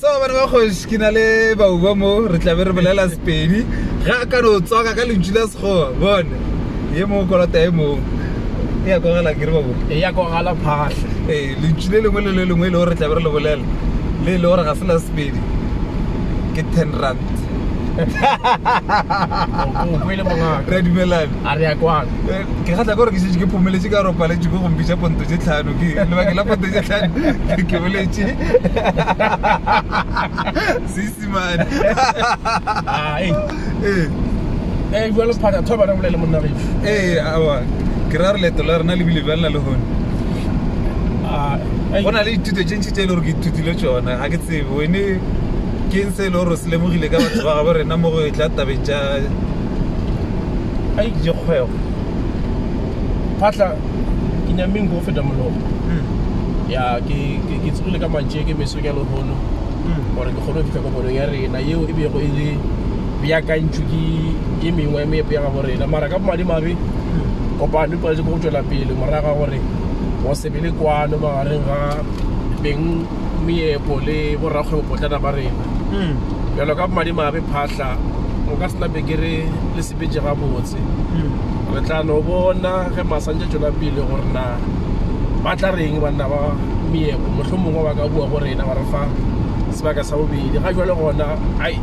so bana ba kgoši ke na le bauba mo re tlabe re bolela sepedi ga ka no tswaka ka lentšu la sekgowa bone ye mongwe kolota e mongwe e ya kogala ke re babo e ya kogala phatlha ee lentšu le lengwe le le lengwe e le gore re tlabe re le bolela le e le gore ga se la sepedi ke ten rand re dumelane a re ya kwano eh, ke kgatla gore ke šetše ke phomeletše ka ropaletše ko gompi tša ponto tše tlhano ke lebake la ponto tše tlhano ke boletše seisimane ee ee ee jalo phata thoba re bolele monna re ee awa ke ra re leto la rena le bile bjang la le gone ah, go na le dithuto tše ntši tše e le gore ke ithutile tsona ga ke tsebe wene ke eng se e le gore se lemogile ka batho ba gabo rena mo go e tla tabeng tša a ikje kgwego phatla ke nyameng go feta molomo ya ke tsogile ka mantše ke meso ya lehono gore ke kgone go fitlha kopanong ya rena yeo e bego e le beakantšwe ke e mengwe ya meepo ya gabo rena mara ka bomadimabe kopano e paletse ko go tšwela pele moraga gore go se be le kwano magareng ga beng meepo le borakgwebopotlana ba rena bjalo ka bomadimabe phahla o ka sena bekere le sepetse gabotse re tla no bona ge masantša tšwela pele gore na ba tla reng banna ba meepo motlho mongwe ba ka bua go rena ba re fa sebaka sa bobedi ga jale gona ai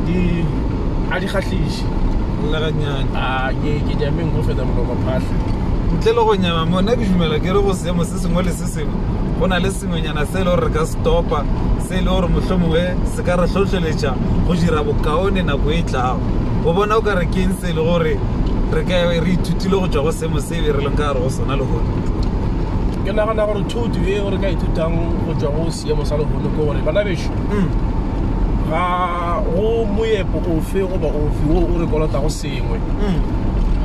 di a di kgahliše lla ganyane a ke ke jameng go feta molomo phahla ntle le go nyama mona ke dumela ke re go seemo se sengwe le se Kriste, go na le sengwenyana se e le gore re ka se topa, se e le gore mohlomongwe se ka re hlohleletša go dira bokaone nako e tlago. Go bona o ka re keng se e le gore re ka re ithutile go tšwa go seemo se be re leng ka gare go sona lehono? Ke nagana gore thuto e re ka ithutang go tšwa go seemo sa lehono ke gore bana bešo mm. ga go moepo ofe goba ofe wo o re kolotago sengwe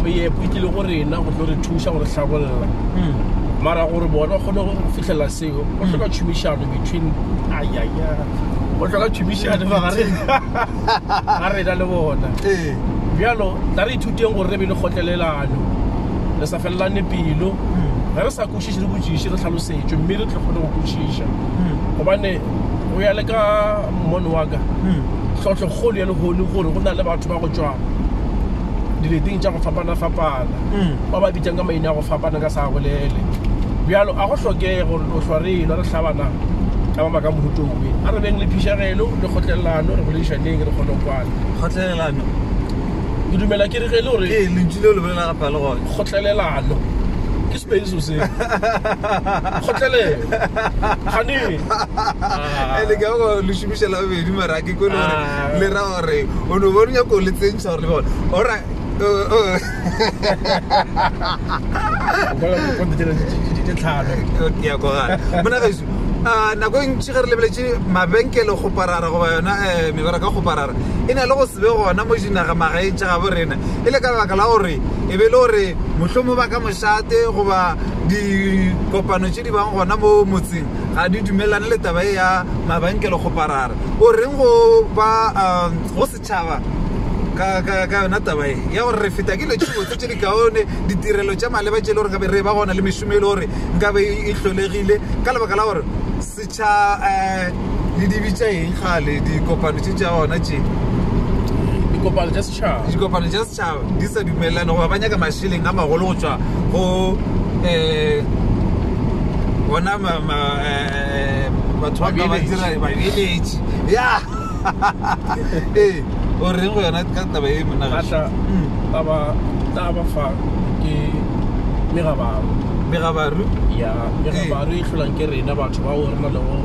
moepo e tlile go rena go tlo re thuša gore hlabolla mara gore bona kgone go fitlhela seo go tlhoka tšhomišano between ayaya go tlhoka tšhomišano magareng ga rena le bona bjalo tla re ithuteng gore re be le kgotlelelano re sa felelane pelo ge re sa kwešiše re botšiše re tlhalosetšwe mme re tle kgone go kwešiša gobane go ya le ka mmono wa ka tlhotlhokgolo ya lehono gore go na le batho ba go tšwa dileteng tša go fapana-fapana ba ba bitšang ka maina a go fapana ka sa bolele bjalo a go hlokege gore o hlwa re elwa re hlabana ka ba baka mohutong we a re beng le phišagelo le kgotlelelano re boledišaneng re kgone go kwana kgotlelelano ke dumela ke re ge le gore ee lentši leo le bolela gape le gone kgotlelelano Space o se kgotlelelo gane e le ka go le shumisha la bedi mara ke go le le ra gore o no bona nyako le tsentsa gore le bona ora ke ya go ga bona ga isu a nako e ntši ge re lebeletse mabenkele go parara goba yona eh, mebara ka go parara e na le go sebe gona mo dinaga magaeng tša gabo rena e le ka lebaka la gore e be e le gore mohlomong ba ka Sate goba dikopano tše di bang gona mo motseng ga di dumelane le taba e ya mabankele kgoparara o reng go ba um, go setšhaba ka ka ka yona taba e ya gore re feta ke dilo tše botse tše di kaone ditirelo tša maleba tše e le gore nkabe re ba gona le mešomo e le gore nkabe e hlolegile ka lebaka la gore setšha um le dibi tša eng gale dikopano tše tša ona tše dikopano tša setšhaba dikopano tša setšhaba di sa dumelelane goba ba nyaka mašeleng a magolo go tswa go um bona eh, batho ba ka ba dira babeletši ya ee o reng go yona ka taba e monagaša mm. taba fa ke megabaru megabaru ya le ga ba re hlolang ke rena batho bao re na le go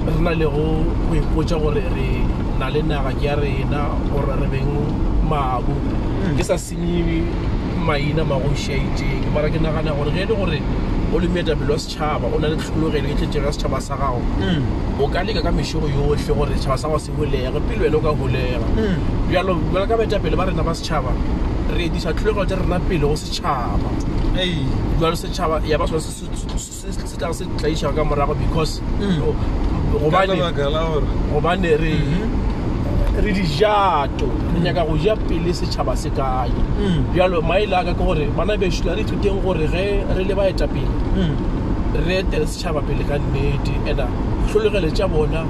re na le go go ipotsa gore re na le naga ke ya rena gore re beng mabu ke sa senye maina magoši a itseng mara ke nagana gore ge e le gore o le moetapele wa setšhaba o na le tlhologelo e tletsego ya setšhaba sa gago o ka leka ka mešogo yohle gore setšhaba sa gago se holege pele wena o ka holega bjalo bjalo ka baetapele ba rena ba setšhaba re etiša tlhologelo tša rena pele go setšhaba Tšhaba ei jwale setšhaba ya ba sone se se- se- se- se- se tla se tlaiša ka morago because Mm. o- Ka gobane lebaka la gore gobane re Mhm. re dijato re nyaka go ja pele setšhaba se kae Mm. bjalo maele aka ke gore bana bešo la re ithuteng gore ge re le baetapele Mm. re etele setšhaba pele ka nnete and tlholegele tša bona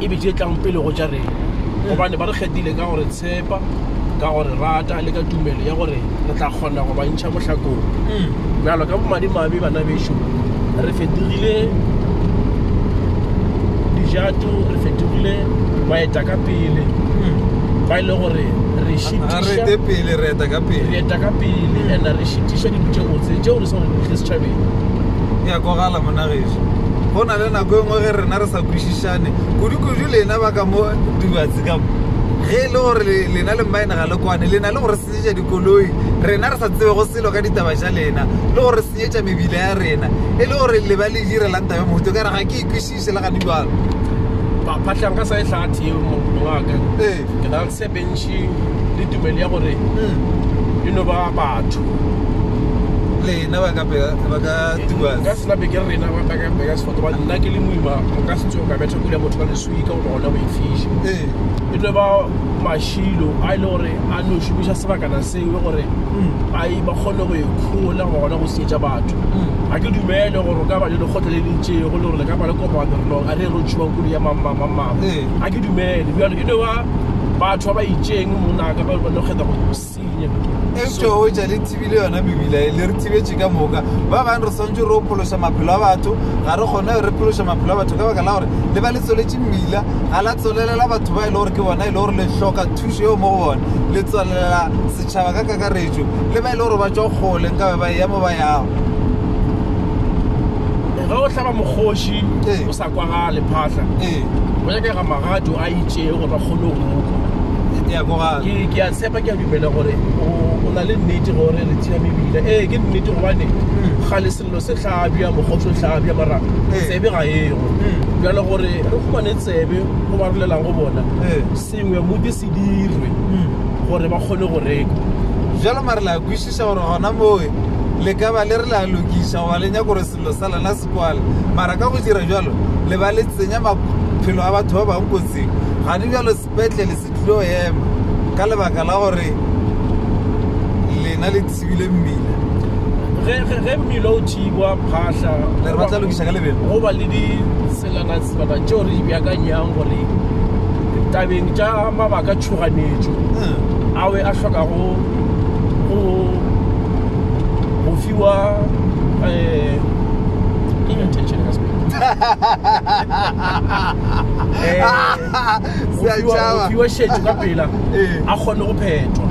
e be di e tlang pele go tša rena gobane ba re kgethile ka gore tshepa ka go re rata le ka tumelo ya gore re tla kgona go ba ntšha mohlakong bjalo ka bomadimabe bana bešo re fetogile dijato re fetogile baeta ka pele ba e le gore re šitišareta pele re eta ka pele re eta ka pele and re šitiša dilo tše botse tšeo re sa di tle setšhabeng ya kogala monageso go na le nako e nngwe ge rena re sa kwešišane kudu-kudu lena ba ka mo dubatse ge e le gore lena le mmaena ga le kwane le na le gore senyetša dikoloi rena re sa tsebe go selo ka ditaba tša lena le gore senyetša mebila ya rena e le gore le ba le direlang taba mohuto ka re ga ke ikwešiše le gane jalo paphatlhang ka sa e tlhathe eo mongaka ee. ke na le sebentši le tumelo ya gore hmm. e no ba batho lena ba ka tuba ka sena beke rena ba ka beka sefoto ba nna ke le moima nka se tsoga ka betha kule motho ka leso pika goba gona go ifiša e tlo ba mašilo a e le gore a no šomiša sebakana seo gore a e ba kgone go ikhola goba gona go sietša batho ga ke dumele gore ka ba le lekgotla le lentšego le gore le ka ba le kopano re no a re ro tšhiwa kolo ya mamamamama ga ke dumele bjalo e no ba batho ba ba itšeng monaka ba ba no kgetha go eupša o etša le thibile yona mebila e le re thibetše ka moka ba bangwe re swantse re ophološa maphelo a batho ga re kgone re phološa maphelo a batho ka baka la gore le ba le tsweletše mmila ga la tswelelela batho ba e le gore ke bona e le gore le hloka thušo eo mo go bona le tswelelela setšhaba ka kakaretšo le ba e le gore ba tswa kgole nka be ba eya mo ba yago ga o hlaba mokgoši ee. o sa kwa ga lephahla ee go nyakega magato a itšee go tla kgolong ke a tshepa ke a dumela gore o na le nnete gore re tsena mebila ee ke nnete gobane hmm. ga le selelo se tlhabja mokgotso tlhabja mara ee. tsebe ga ego hmm. bjale gore re humane tsebe go ba rolelang go bona ee. sengwe modi se dirwe hmm. gore ba kgone go reka jalo mare la kwisisa gore gona moe le ka ba le re la lokisa goba le nyako gore selo sa lona se kwale mara ka go dira bjalo le ba le tsenya maphelo a batho ba bangwe kotsing ga di bjalo sepetlele se tlilo ema ka lebaka la gore lena le thibile mmila ge mmila o thibwa phahla le re ba tla lokiša ka lebelo go ba le ditselana tselana tšeo re di bjakanyang gore tabeng tša mabaka tšhoganetšo hmm. awe a hlokago go fiwa eh, ke eng attention ka Sepedi? Eh, go Sea fiwa- tšaba. go fiwa šetšo ka pela Ee. a kgone go phetwa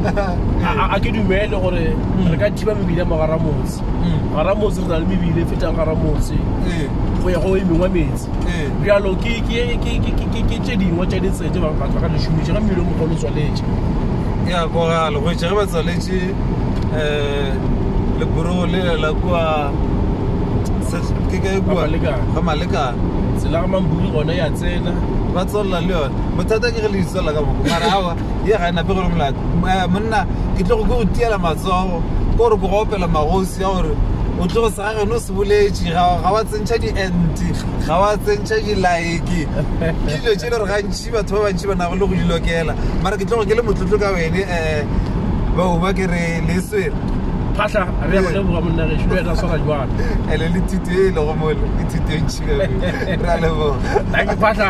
A- a- a ke dumele gore re ka thiba mebile ya mogara motse Mm. gara motse re na le mebile e fetang gara motse Ee, go ya go e mengwe metsi ee. bjalo ke ke- ke- ke- ke- ke- ke tše dingwe tša ditsela tse ba- batho ba ka di šomiša ga mmele o mogolo o tswaletše ya koga legoetša ge ba tswaletše um leboro le la kwa ke ka e bua ga malekana tsela ga mambuli gone ya tsena ba tswelela le yone bothata ke re le itswelela ka boko mara awa ye ga e nape gore molato eh, monna ke tlo go ke go tiela matsogo ke gore ke go opela magosi ya gore o tlo go sega gone o se boletše ga wa tsentšha di-ent ga wa tsentšha di-like ke dilo tše le gore gantši ke batho ba bantši ba nago le go di lokela mara ke tlogo ke le motlotlo ka wene um eh, bauma ke re le swere phahla re ya go leboga monnageso le wena swara jwalo ele le thuto e lego mole ke thuto e ntšhikae re a leboga phahla